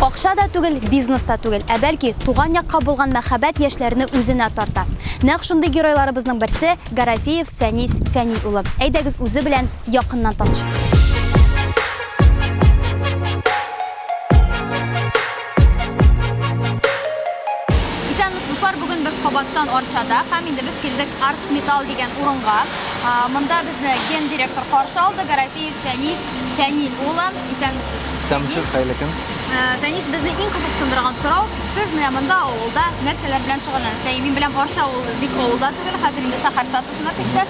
Акча да түгел, бизнес та түгел, ә бәлки туган якка булган мәхәббәт яшьләрне үзенә тарта. Нәкъ шундый геройларыбызның берсе Гарафеев Фәнис Фәни улы. Әйдәгез үзе белән якыннан танышыйк. Кабаттан Арчада һәм инде без килдек Арт Металл дигән урынга. Монда безне ген директор каршы алды, Гарәфиев Фәнис Фәнил улы. Исәнмесез. Исәнмесез, хәерле көн. Фәнис, безне иң кызыксындырган сорау, сез менә монда авылда нәрсәләр белән шөгыльләнәсез? Мин беләм, Арча авылы бик авылда түгел, хәзер инде шәһәр статусына күчте.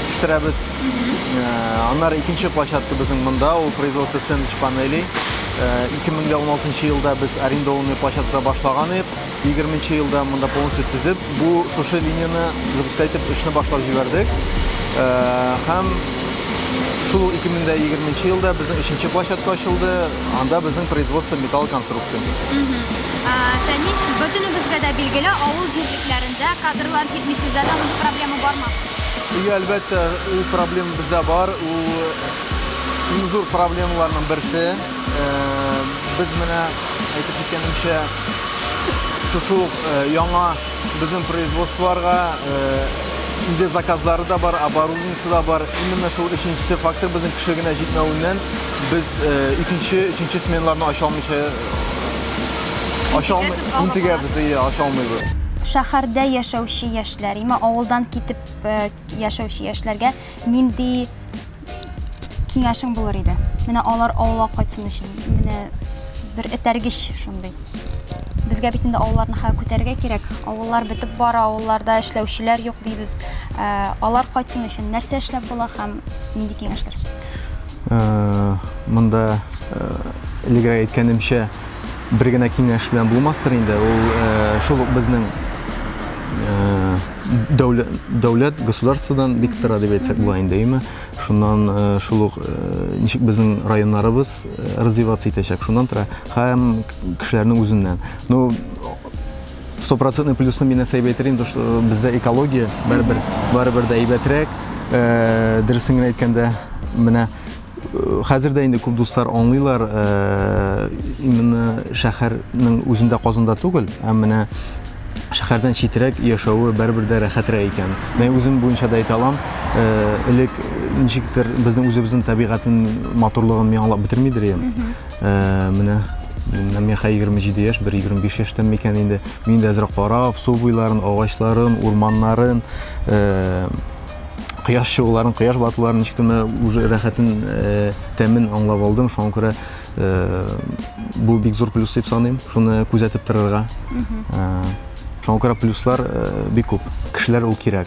җитештерәбез. Э, аннары икенче площадка безнең монда, ул производство сэндвич панелей. 2016 э, елда без арендованный площадка башлаган идек. 20 елда монда полностью төзеп, бу шушы линияне запускать итеп эшне башлап җибәрдек. Э, һәм шул 2020 елда безнең өченче площадка ачылды анда безнең производство металл конструкция фәнис бөтенебезгә дә билгеле авыл җирлекләрендә кадрлар Әйтми сездә дә мондый проблема бармы? И, әлбәттә, ул проблема бездә бар. Ул иң зур проблемаларның берсе. Э, без менә әйтеп киткәнемчә шушы э, яңа безнең производстволарга э, инде заказлары да бар, оборудованиесе да бар. Именно шул өченчесе фактор безнең кеше генә җитмәвеннән без икенче, өченче сменаларны ача алмыйча Шәһәрдә яшәүче яшьләр, имә авылдан китеп э, яшәүче яшьләргә нинди киңәшең булыр иде? Менә алар авылга кайтсын өчен, менә бер этәргеч шундый. Безгә бит инде авылларны хәл күтәрергә кирәк. Авыллар бетеп бара, авылларда эшләүчеләр юк дибез. Э, алар кайтсын өчен нәрсә эшләп була һәм нинди киңәшләр? Э, монда э, элегрәк әйткәнемчә бер генә киңәш белән булмастыр инде ул э, шул ук безнең дәүләт государстводан бик тора дип әйтсәк була инде әйме шуннан шул ук ничек безнең районнарыбыз развиваться итәчәк шуннан тора һәм кешеләрнең үзеннән ну стопроцентный плюсны мин нәрсә әйтер инде что э, бездә экология барыбер барыбер дә әйбәтрәк э, дөресен генә әйткәндә менә э, хәзер дә инде күп дуслар аңлыйлар именно шәһәрнең үзендә казанда түгел ә менә шәһәрдән читрәк яшәве барыбер дә рәхәтрәк икән мен үзем буенча да әйтә алам элек ничектер безнең үзебезнең табигатен матурлыгын мин аңлап бетермидер идем Менә Миннән миха 27 яшь, бер 25 яшьтән микән инде. Мин дә әзрәк карап, су буйларын, агачларын, урманнарын, э, кояш чыгуларын, кояш батуларын ничек кенә уже рәхәтен, э, тәмен аңлап алдым. Шуңа күрә э, бу бик зур плюс дип саныйм. Шуны күзәтеп торырга. Э, шуңа күрә плюслар э, бик күп. Кешеләр ул кирәк.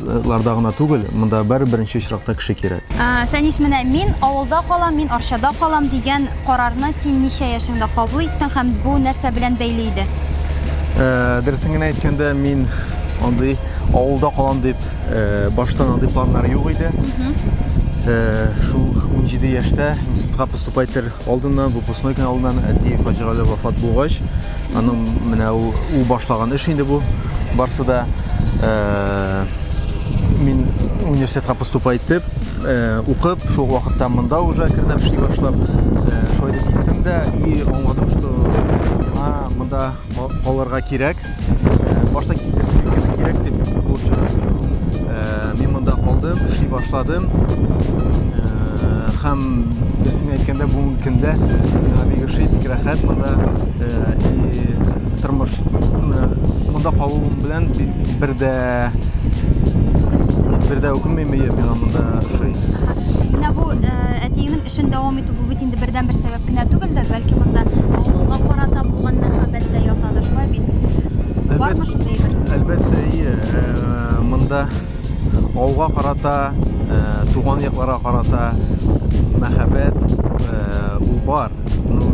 ларда гына түгел, монда бер беренче очракта кеше кирәк. Фәнис, менә мин авылда калам, мин Арчада калам дигән карарны син ничә яшеңдә кабул иттең һәм бу нәрсә белән бәйле иде? Дөресен генә әйткәндә, мин андый авылда калам дип баштан андый планнар юк иде. Шул 17 яшьтә институтка поступать итәр алдыннан, выпускной көн алдыннан әти фаҗигале вафат булгач, Аның менә ул, ул башлаган эш инде бу. Барсы да э, мин университетка поступа итеп, э, укып, шул вакытта монда уже кернәп эшли башлап, э, шулай дип киттем дә и аңладым, что миңа монда калырга кирәк. Э, башта керсә кирәк дип булып чыкты инде ул. Э, Мин монда калдым, эшли башладым. Һәм дөресен әйткәндә, бүгенге көндә миңа бик ошый, бик рәхәт монда. И тормыш монда калуым белән бер дә бер дә үкенмим, миңа монда ошый. Менә бу әтиеңнең Эшен дәвам итү, бу бит инде бердәнбер сәбәп кенә түгелдер, бәлки монда авылга карата булган мәхәббәт тә ятадыр, шулай бит? Әлбәт, Бармы шундый әйбер? Әлбәттә, ие. Ә, монда авылга карата, ә, туган якларга карата мәхәббәт, ә, ул бар. Ну,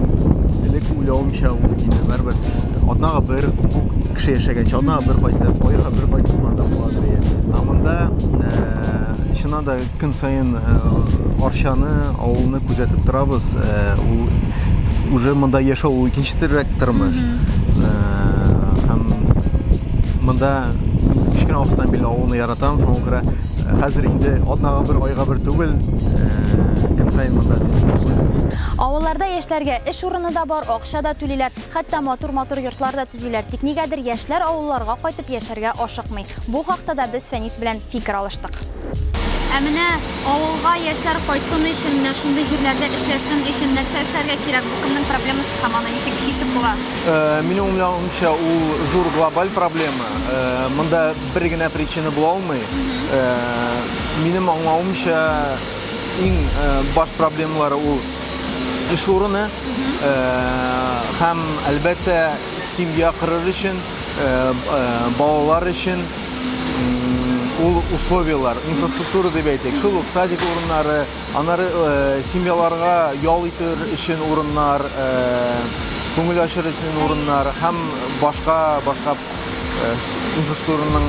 элек уйлавымча, ул бит инде барыбер атнага бер бу кеше яшәгәнче, атнага бер кайтып, айга бер кайтып монда була, ди. Ә монда, ә, чыннан да, Көн саен Арчаны, авылны күзәтеп торабыз. Ул уже монда яшәү ул икенче төррәк тормыш. Һәм монда кечкенә вакыттан биле авылны яратам, шуңа күрә хәзер инде атнага бер, айга бер түгел, көн саен монда дисәң дә була. Авылларда яшьләргә эш урыны да бар, акча да түлиләр, хәтта матур-матур йортлар да төзиләр. Тик нигәдер яшьләр авылларга кайтып яшәргә ашыкмый. Бу хакта да без Фәнис белән фикер алыштык. Ә менә авылга яшьләр кайтсын өчен, менә шундый җирләрдә эшләсен өчен нәрсә эшләргә кирәк? Бу кемнең проблемасы һәм аны ничек чишеп була? Э, минем уйлавымча, ул зур глобаль проблема. Э, монда бер генә причина була алмый. Э, минем аңлавымча, иң э, баш проблемалары ул эш урыны э, һәм, әлбәттә, семья корыр өчен, э, э, балалар өчен ул условиялар, инфраструктура дип әйтик, шул ук садик урыннары, анары э, семьяларга ял итер өчен урыннар, э, күңел ачыр өчен урыннар һәм башка башка э, инфраструктураның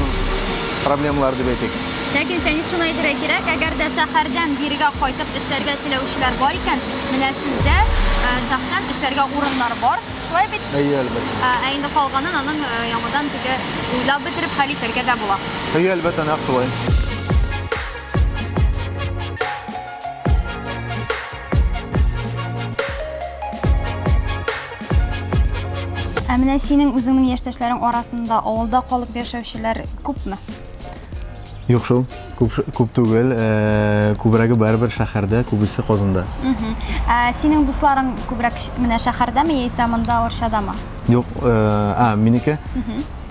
проблемалары дип әйтик. Ләкин Фәнис шуны әйтергә кирәк, әгәр дә шәһәрдән бирегә кайтып эшләргә теләүчеләр бар икән, менә сездә э, шәхсән эшләргә урыннар бар. Шулай бит? Әйе, әлбәттә. Ә, ә инде калганын аның э, яңадан теге уйлап бетереп хәл итәргә дә була. Әйе, әлбәттә, нәкъ шулай. Ә менә синең үзеңнең яшьтәшләрең арасында авылда калып яшәүчеләр күпме? Юк шул, күп, күп түгел, э, күбрәге барыбер шәһәрдә, күбесе Казанда. Ә синең дусларың күбрәк ш- менә шәһәрдәме яисә монда Орчадамы? Юк, э, а, минеке,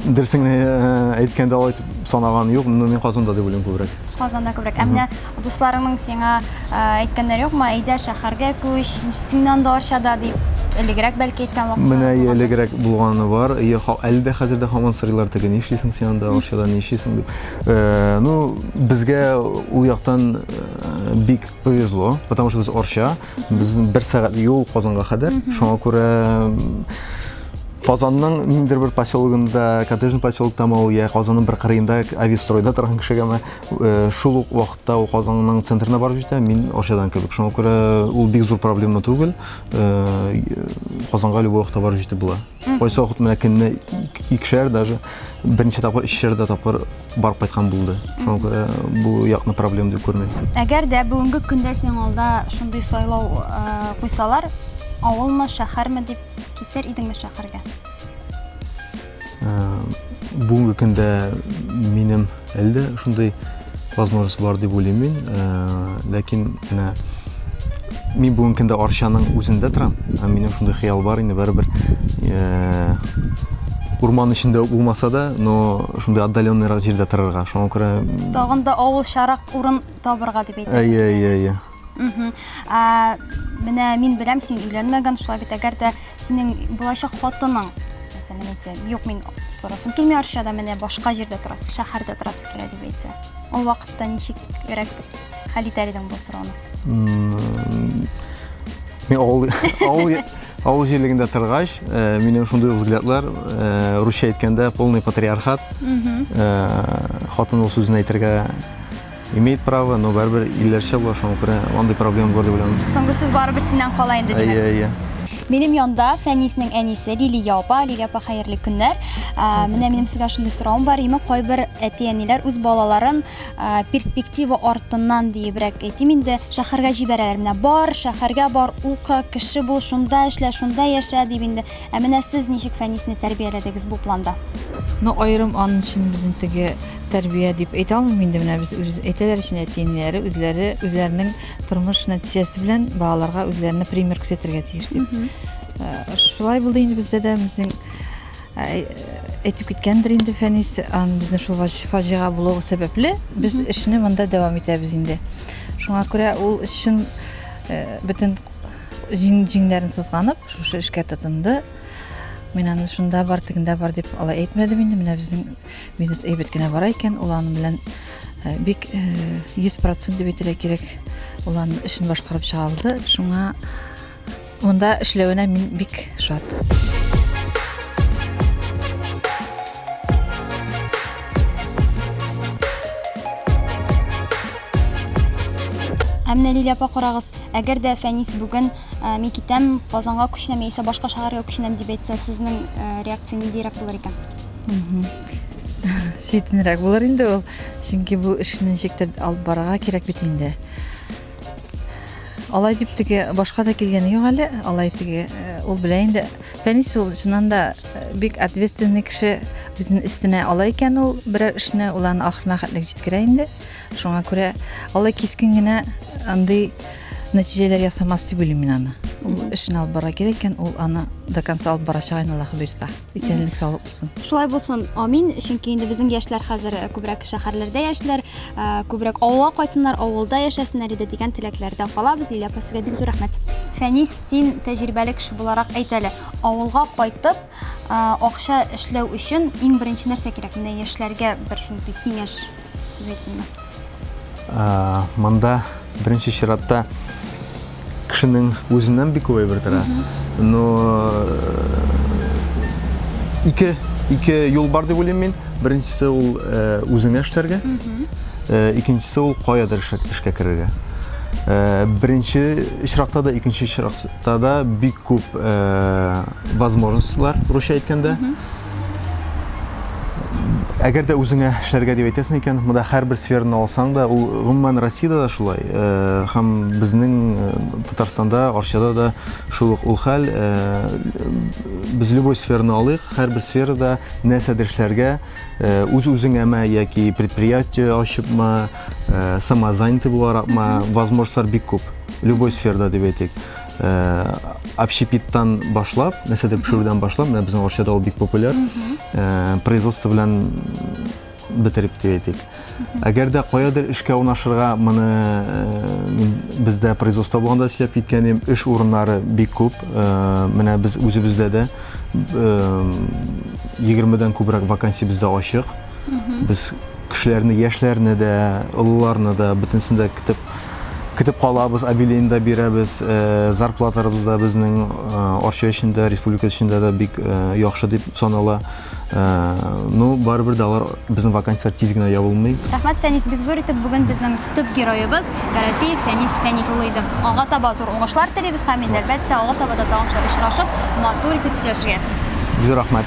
дөресеңне э, әйткәндә алай итеп санаган юк, но мин Казанда дип уйлыйм күбрәк. Казанда күбрәк. Ә менә Дусларыңның сиңа әйткәннәр юкмы, әйдә шәһәргә күч, синнән дә арчада дип, элегрәк бәлки әйткән вакытлар. Менә ие элегрәк булганы бар. Ие, әле дә хәзер дә һаман сорыйлар теге, ни эшлисең син анда арчада, ни эшлисең дип. Э, ну, безгә ул яктан э, бик повезло, потому что без арча, безнең бер сәгать юл Казанга кадәр. Шуңа күрә Казанның ниндер бер поселогында, коттеджный поселокта ма ул, я Казанның бер кырыенда, авистройда торган кешегә ме, Шул ук вакытта ул Казанның центрына барып җитә, мин Арчадан кебек. Шуңа күрә ул бик зур проблема түгел. Казанга любой вакытта барып җитеп була. Кайсы вакыт менә көнне икешәр даже берничә тапкыр ишәр дә тапкыр барып кайткан булды. Шуңа күрә бу якны проблема дип күрмим. Әгәр дә бүгенге көндә синең алда шундый сайлау куйсалар, авылмы, шәһәрме дип китер идеңме шәһәргә? Бүгенге көндә минем әлдә шундый возможность бар дип уйлыйм мин. Ләкин менә мин бүгенге көндә Арчаның үзендә торам. Минем шундый хыял бар инде барыбер. Урман эчендә булмаса да, но шундый отдаленныйрак җирдә торырга. Шуңа күрә... Тагын да авылчарак урын табырга дип әйтәсез. Әйе, әйе, әйе. Ә, менә мин беләм, син өйләнмәгән, шулай бит, әгәр дә синең булачак хатының, мәсәлән, әйтсә, юк, мин торасым килми Арчада, менә башка җирдә торасы, шәһәрдә торасы килә дип әйтсә. Ул вакытта ничек ирек хәл итәр идең бу сорауны? Мин авыл авыл авыл җирлегендә торгач, э, минем шундый взглядлар, э, русча әйткәндә полный патриархат. Э, хатын ул сүзен әйтергә Имеет право, но барыбер илләрчә була, шуңа күрә андый проблема бар дип уйланам. Соңгы сүз барыбер синнән кала инде, димәк. Әйе, әйе. Минем янда Фәниснең әнисе Лилия апа. Лилия апа, хәерле көннәр. Менә минем сезгә шундый соравым бар. Имек кайбер әти-әниләр үз балаларын перспектива артыннан диебрәк әйтим инде, шәһәргә җибәрәләр. Менә бар, шәһәргә бар, укы, кеше бул, шунда эшлә, шунда яшә дип инде. Ә менә сез ничек Фәнисне тәрбияләдегез бу планда? Ну, аерым аның өчен безнең теге Тәрбия дип әйтә алмыйм инде менә без үз әйтәләр өчен әти-әниләре үзләре үзләренең тормыш нәтиҗәсе белән балаларга үзләренә пример күрсәтергә тиеш дип. Э, шулай булды инде бездә дә безнең э, әйтеп киткәндер инде Фәнис, безнең шул фаҗига булуы сәбәпле без эшне монда дәвам итәбез инде. Шуңа күрә ул чын э, бөтен җиңнәрен сызганып, шушы эшкә тотынды. Мин аны шунда бар, тегендә бар дип алай әйтмәдем инде. Менә безнең бизнес әйбәт кенә бара икән, ул аның белән э, бик 100% э, дип әйтергә кирәк, ул аның эшен башкарып чыга алды. Шуңа монда эшләвенә мин бик шат. Ә менә Лилия апа карагыз, әгәр дә Фәнис бүген ә, мин китәм, Казанга күченәм яисә башка шәһәргә күченәм дип әйтсә, сезнең ә, реакция ниндирәк булыр икән? Шитенрәк булыр инде ул. Чөнки бу эшне ничектер алып барырга кирәк бит инде. Алай дип теге башка да килгәне юк әле. Алай теге э, ул белә инде. Фәнис ул чыннан да э, бик ответственный кеше. Үзен истенә ала икән ул берәр эшне, ул аны ахырына хәтлек җиткерә инде. Шуңа күрә алай кискен генә андый нәтиҗәләр ясамас дип уйлыйм мин аны. Ул эшен алып бара кирәк икән, ул аны до конца алып барачак инде Аллаһы бирса. Исәнлек саулык булсын. Шулай булсын, амин. Чөнки инде безнең яшьләр хәзер э, күбрәк шәһәрләрдә яшьләр, э, күбрәк авылга кайтсыннар, авылда яшәсеннәр иде дигән теләкләрдә калабыз. Лилия апа, сезгә бик зур рәхмәт. Фәнис, син тәҗрибәле кеше буларак әйт әле, авылга кайтып, э, акча эшләү өчен иң беренче нәрсә кирәк? Менә яшьләргә бер шундый киңәш Монда беренче чиратта кешенең үзеннән бик күп әйбер тора. Но ике ике юл бар дип уйлыйм мин. Беренчесе ул үзеңә эшләргә. Икенчесе ул каядыр эшкә керергә. Беренче чиратта да, икенче чиратта да бик күп возможностьлар, русча әйткәндә. әгәр дә үзеңә эшләргә дип әйтәсең икән, монда һәрбер сфераны алсаң да, ул гомумән Россиядә дә шулай, һәм безнең Татарстанда, Арчада да шул ук ул хәл. Без любой сфераны алыйк, һәрбер сферада нәрсәдер эшләргә, үз-үзеңәме яки предприятие ачыпмы, самозанятый буларакмы, возможностьлар бик күп, любой сферада дип әйтик. общепиттан башлап, нәрсәдер пешерүдән башлап, менә безнең Арчада ул бик популяр. Производство белән бетереп дип әйтик. Әгәр дә каядыр эшкә урнашырга, моны бездә производство булганда эшләп киткәнем, эш урыннары бик күп. Менә без үзебездә дә 20 дән күбрәк вакансия бездә ачык. Мхм. Без кешеләрне, яшьләрне дә, олыларны да бөтенесен дә көтеп көтеп калабыз, обелен да бирәбез. Э, Зарплатарыбыз да безнең э, Арча өчен дә, республика өчен дә дә бик э, яхшы дип санала. Э, Ну, барыбер дә алар безнең вакансияләр тиз генә ябылмый. Рәхмәт, Фәнис, бик зур итеп бүген безнең Төп героебыз Гарәпиев Фәнис Фәнил улы иде. Аңа таба зур уңышлар телибез һәм инде әлбәттә аңа таба да тагын шулай очрашып, матур итеп сөйләшергә язсын. Зур рәхмәт.